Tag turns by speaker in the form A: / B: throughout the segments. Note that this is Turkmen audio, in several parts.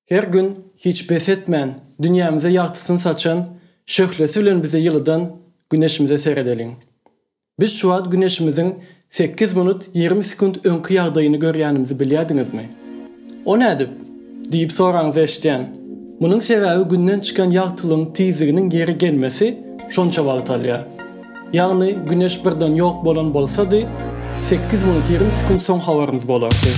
A: Her gün hiç bes etmän, dünýämize ýagtysyny saçan, şöhlesi bilen bizi ýylydan Güneşimize seredeliň. Biz şu wagt Güneşimiziň sekiz minut ýigrimi sekunt öňki ýagdaýyny görýänimizi bilýärdiňizmi? O nädip? diýip soraňyzy eşidýän. Munuň sebäbi Günden çykan ýagtylygyň tizliginiň ýeri gelmesi şonça wagt alýar. Ýagny güneş birden ýok bolan bolsady, sekiz minut ýigrimi sekunt soň habarymyz bolardy.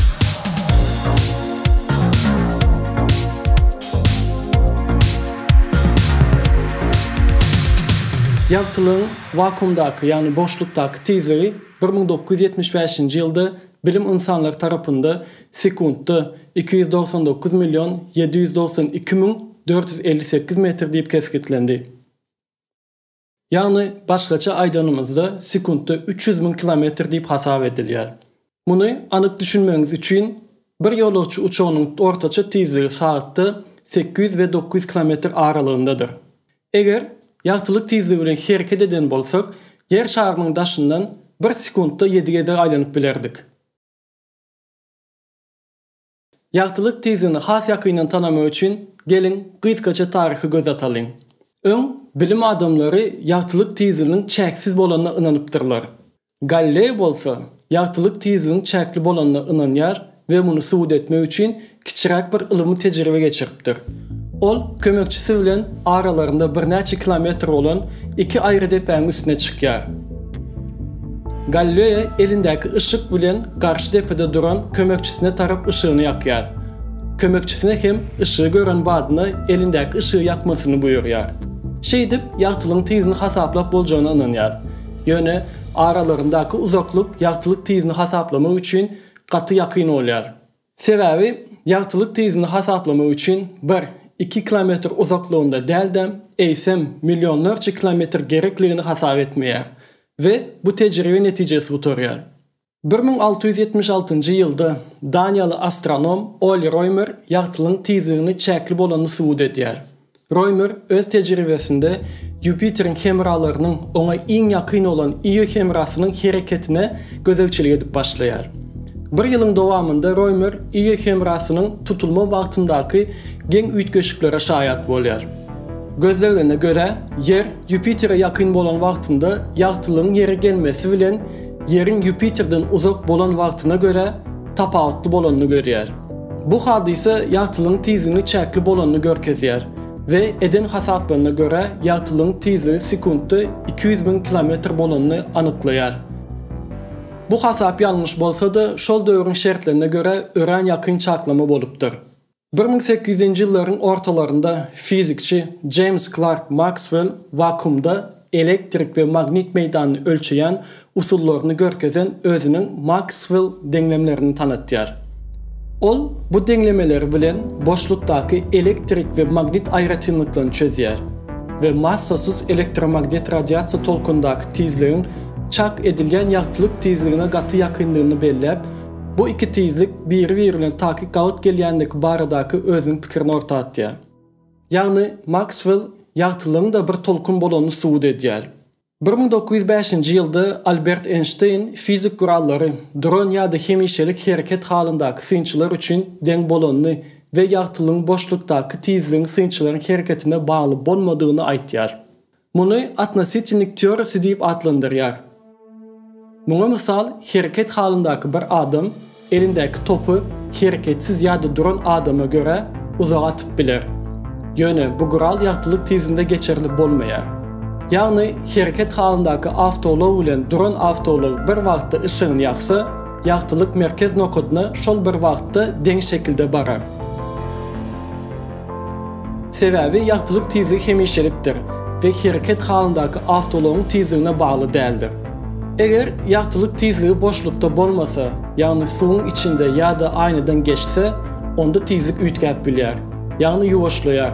A: Ýagtylygyň wakuumdaky, ýagny boşlukdaky tizligi bir müň dokuz ýüz ýetmiş bäşinji ýylda bilim ynsanlary tarapynda sekuntda iki ýüz dogsan dokuz million ýedi ýüz dogsan iki müň dört ýüz elli sekiz metr diýip kesgitlendi. Ýagny başgaça aýdanymyzda sekuntda üç ýüz müň kilometr diýip hasap edilýär. Muny anyk düşünmegiňiz üçin bir ýolagçy uçagynyň ortaça tizligi sagatda sekiz ýüz we dokuz ýüz kilometr aralygyndadyr. Eger ýagtylyk tizligi bilen hereket eden bolsak Ýer şarynyň daşyndan bir sekuntda ýedi gezek aýlanyp bilerdik. Ýagtylyk tizini has ýakyndan tanamak üçin geliň gysgaça taryhy göz atalyň. Öň, bilim adamlary ýagtylyk tiziniň çäksiz bolanyna ynanypdyrlar. Galleý bolsa, ýagtylyk tiziniň çäkli bolanyna ynanýar we muny subut etmek üçin kiçiräk bir ylymy tejribe geçiripdir. beripdir. Ol kömekçisi bilen aralarynda birnäçe kilometr bolan iki aýry depäň üstüne çykýar. Galleýa elindäki yşyk bilen garşy depede duran kömekçisine tarap yşygyny ýakýar. Kömekçisine hem yşygy gören badyna elindäki yşygy ýakmasyny buýurýar. Şeýdip, ýagtylygyň tizini hasaplap boljagyna ynanýar. Ýöne aralaryndaky uzaklyk ýagtylyk tizini hasaplamak üçin gaty ýakyn bolýar. Sebäbi ýagtylyk tizini hasaplamak üçin bir, iki kilometr uzaklygynda däl-de, eýsem, millionlarça kilometr gerekligini hasap etmeýär we bu tejribe netijesi gutarýar. Bir müň alty ýüz ýetmiş altynjy ýylda daniýaly astronom Oli Roýmer ýagtylygyň tizligini çäkli bolanyny subut edýär. Roýmer öz tejribesinde Ýupiteriň hemralarynyň oňa iň ýakyn bolan Io hemrasynyň hereketine gözegçilik edip başlaýar. Bir ýylyň dowamynda Roýmer Io hemrasynyň tutulma wagtyndaky geň üýtgeşiklere şaýat bolýar. Gözleglerine görä, Ýer Ýupitere ýakyn bolan wagtynda ýagtylygyň Ýere gelmesi bilen Ýeriň Ýupiterden uzak bolan wagtyna görä tapawutly bolanyny görýär. Bu hadysa ýagtylygyň tizligini çäkli bolanyny görkezýär we eden hasaplaryna görä ýagtylygyň tizligi sekuntda iki ýüz müň kilometr bolanyny anyklaýar. Bu hasap ýalňyş bolsa-da, şol döwrüň şertlerine görä örän ýakyn çaklama bolupdyr. Bir müň sekiz ýüzünji ýyllaryň ortalarynda fizikçi Jeýms Klark Makswell wakuumda elektrik we magnit meýdanyny ölçeýän usullaryny görkezen özüniň Makswell deňlemlerini tanatýar. Ol bu deňlemeleri bilen boşlukdaky elektrik we magnit aýratynlyklaryny çözýär we massasyz elektromagnit radiasiýa tolkundaky tizligiň çak edilýän ýagtylyk tizligine gaty ýakyndygyny belläp, Bu iki tizlik biri-biri bilen takyk gabat gelýändigi baradaky özüniň pikirini orta atýar. Ýagny Makswell ýagtylygyň-da bir tolkun bolanyny subut edýär. Bir müň dokuz ýüz bäşinji ýylda Albert Eýnşteýn fizik gurallary duran ýa-da hemişelik hereket halyndaky synçylar üçin deň bolanyny we ýagtylygyň boşlukdaky tizligiň synçylaryň hereketine bagly bolmadygyny aýtýar. Muny atnositilnik teorisi diýip atlandyrýar. Muňa mysal hereket halyndaky bir adam elindäki topy hereketsiz ýa-da duran adama görä uzaga atyp biler. Ýöne bu gural ýagtylyk tizinde geçirilip bolmaýar. Ýagny hereket halyndaky awtoulag bilen duran awtoulag bir wagtda yşygyny ýaksa, ýagtylyk merkez nokadyna şol bir wagtda deň şekilde barar. Sebäbi ýagtylyk tizligi hemişelikdir we hereket halyndaky awtoulagyň tizligine bagly däldir. Eger ýagtylyk tizligi boşlukda bolmasa, ýagny suwuň içinde ýa-da aýnadan geçse, onda tizlik üýtgäp bilýär, ýagny ýuwaşlaýar.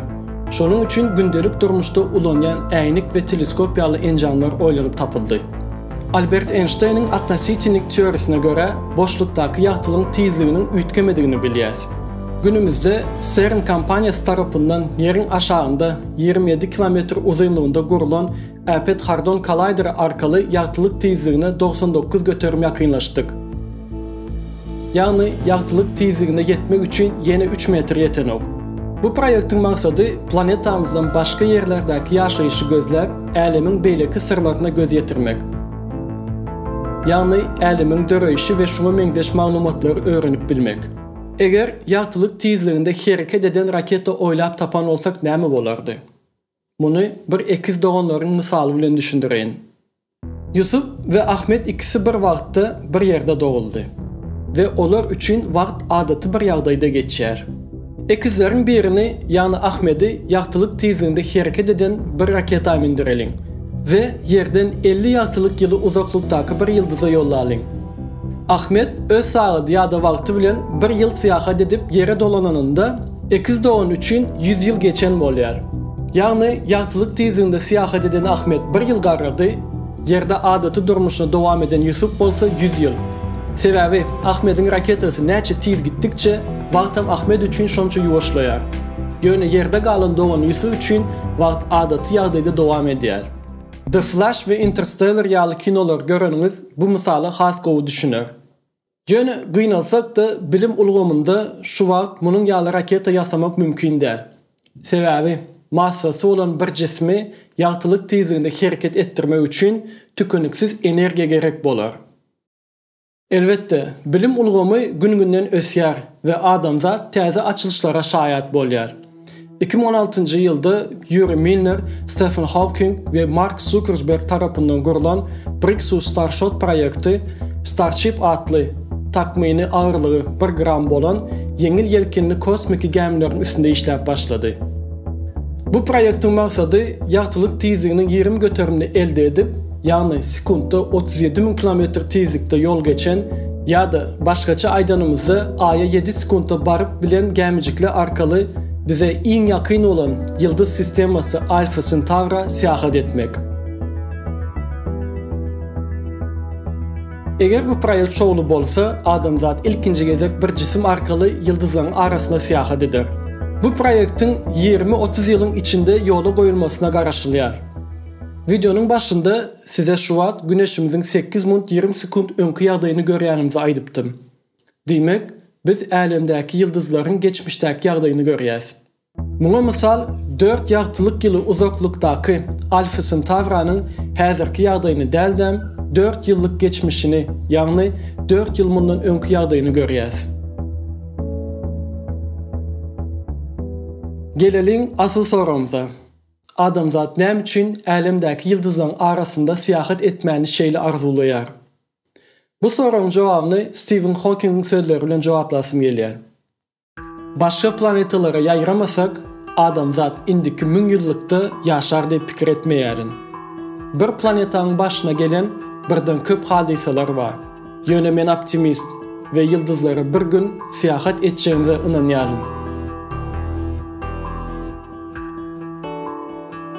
A: Şonuň üçin gündelik durmuşda ulanýan äýnek we teleskop ýaly enjamlar oýlanyp tapyldy. Albert Eýnşteýniň atnositelnik teoriýasyna görä, boşlukdaky ýagtylygyň tizliginiň üýtgemedigini bilýäs. Günümizde CERN kompaniýasy tarapyndan ýeriň aşagynda ýigrimi ýedi kilometr uzynlygynda gurlan Äpet Hardon Kollaýderi arkaly ýagtylyk tizligine dogsan dokuz göterim ýakynlaşdyk. Ýagny ýagtylyk tizligine ýetmek üçin ýene üç metr ýetenok. Bu proýektiň maksady planetamyzdan başga ýerlerdäki ýaşaýşy gözläp, älemiň beýleki syrlaryna göz ýetirmek. Ýagny älemiň döreýşi we şuňa meňzeş maglumatlary öwrenip bilmek. Eger ýagtylyk tizliginde hereket eden raketa oýlap tapan bolsak näme bolardy? Muny bir ekiz doganlaryň mysaly bilen düşündireýin. Ýusup we Ahmet ikisi bir wagtda bir ýerde doguldy we olar üçin wagt adaty bir ýagdaýda geçýär. Ekizleriň birini, ýagny Ahmedi ýagtylyk tizliginde hereket eden bir raketa mindireliň we Ýerden elli ýagtylyk ýyly uzaklykdaky bir ýyldyza ýollalyň. Ahmet öz sagady ýa-da wagty bilen bir ýyl syýahat edip Ýere dolananynda, Ekiz dogan üçin ýüz ýyl geçen bolýar. Ýagny, ýagtylyk tizliginde syýahat eden Ahmet bir ýyl garrady, Ýerde adaty durmuşyny dowam eden Ýusup bolsa ýüz ýyl. Sebäbi, Ahmediň raketasy näçe tiz gitdikçe, wagtam Ahmet üçin şonça ýuwaşlaýar. Ýöne Ýerde galan dogany Ýusup üçin wagt adaty ýagdaýda dowam edýär. The Flash we Interstellar ýaly kinolary göreniňiz bu mysala has gowy düşüner. Ýöne gynalsak-da, bilim ulgamynda şu wagt munuň ýaly raketa ýasamak mümkin däl. Sebäbi, massasy bolan bir jismi ýagtylyk tizliginde hereket etdirmek üçin tükeniksiz energiýa gerek bolar. Elbetde, bilim ulgamy gün-günden ösýär we adamzat täze açylyşlara şaýat bolýar. Iki müň on altynjy ýylda Ýuri Milner, Stefen Hawking we Mark Zukersberg tarapyndan gurlan Brixus Starshot proýekti Starship atly, takmyny agyrlygy bir gram bolan, ýeňil ýelkenli kosmiki gämileriň üstünde işläp başlady. Bu proýektiň maksady ýagtylyk tizliginiň ýigrimi göterimini elde edip, ýagny sekuntda otuz ýedi müň kilometr tizlikde ýol geçen, ýa-da başgaça aýdanymyzda Aýa ýedi sekuntda baryp bilen gämijikler arkaly bize iň ýakyn bolan ýyldyz sistemasy Alfa Sentaura syýahat etmek. Eger bu proýekt şowly bolsa, adamzat ilkinji gezek bir jisim arkaly ýyldyzlaryň arasyna syýahat eder. Bu proýektiň ýigrimi-otuz ýylyň içinde ýola goýulmasyna garaşylýar. Wideonyň başynda size şu wagt Güneşimiziň sekiz minut ýigrimi sekunt öňki ýagdaýyny görýänimizi aýdypdym. Diýmek, biz Älemdäki ýyldyzlaryň geçmişdäki ýagdaýyny görýäs. Muňa mysal dört ýagtylyk ýyly uzaklykdaky Alfa Sentauranyň häzirki ýagdaýyny däldem, dört ýyllyk geçmişini, ýagny dört ýyl mundan öňki ýagdaýyny görýäs. Geleliň asyl soragymyza. Adamzat näme üçin älemdäki ýyldyzlaryň arasynda syýahat etmäni şeýle arzuwlaýar? Bu soragyň jogabyny Stiwen Hokingiň sözleri bilen jogaplasym gelýär. Başga planetalara ýaýramasak, adamzat indiki müňýyllykda ýaşar diýip pikir etmeýärin. Bir planetaň başyna gelen birden köp hadysalar bar. Ýöne men optimist we ýyldyzlara bir gün syýahat etjegimize ynanýaryn.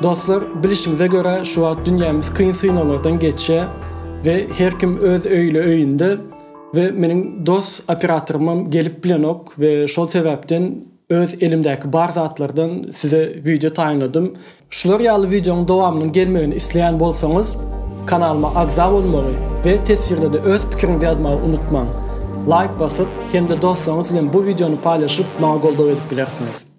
A: Dostlar, bilişimize görä şu wagt dünýämiz kyn synaglardan geçýär we her kim öz öýli öýünde we meniň dos operatorymam gelip bilenok we şol sebäpden öz elimdäki bar zatlardan size wideo taýynladym. Şular ýaly wideoň dowamynyň gelmegini isleýän bolsaňyz kanalyma agza bolmagy we teswirde-de öz pikiriňizi ýazmagy unutmaň. Laýk basyp hem-de dostlaryňyz bilen bu wideony paýlaşyp maňa goldaw edip bilersiňiz.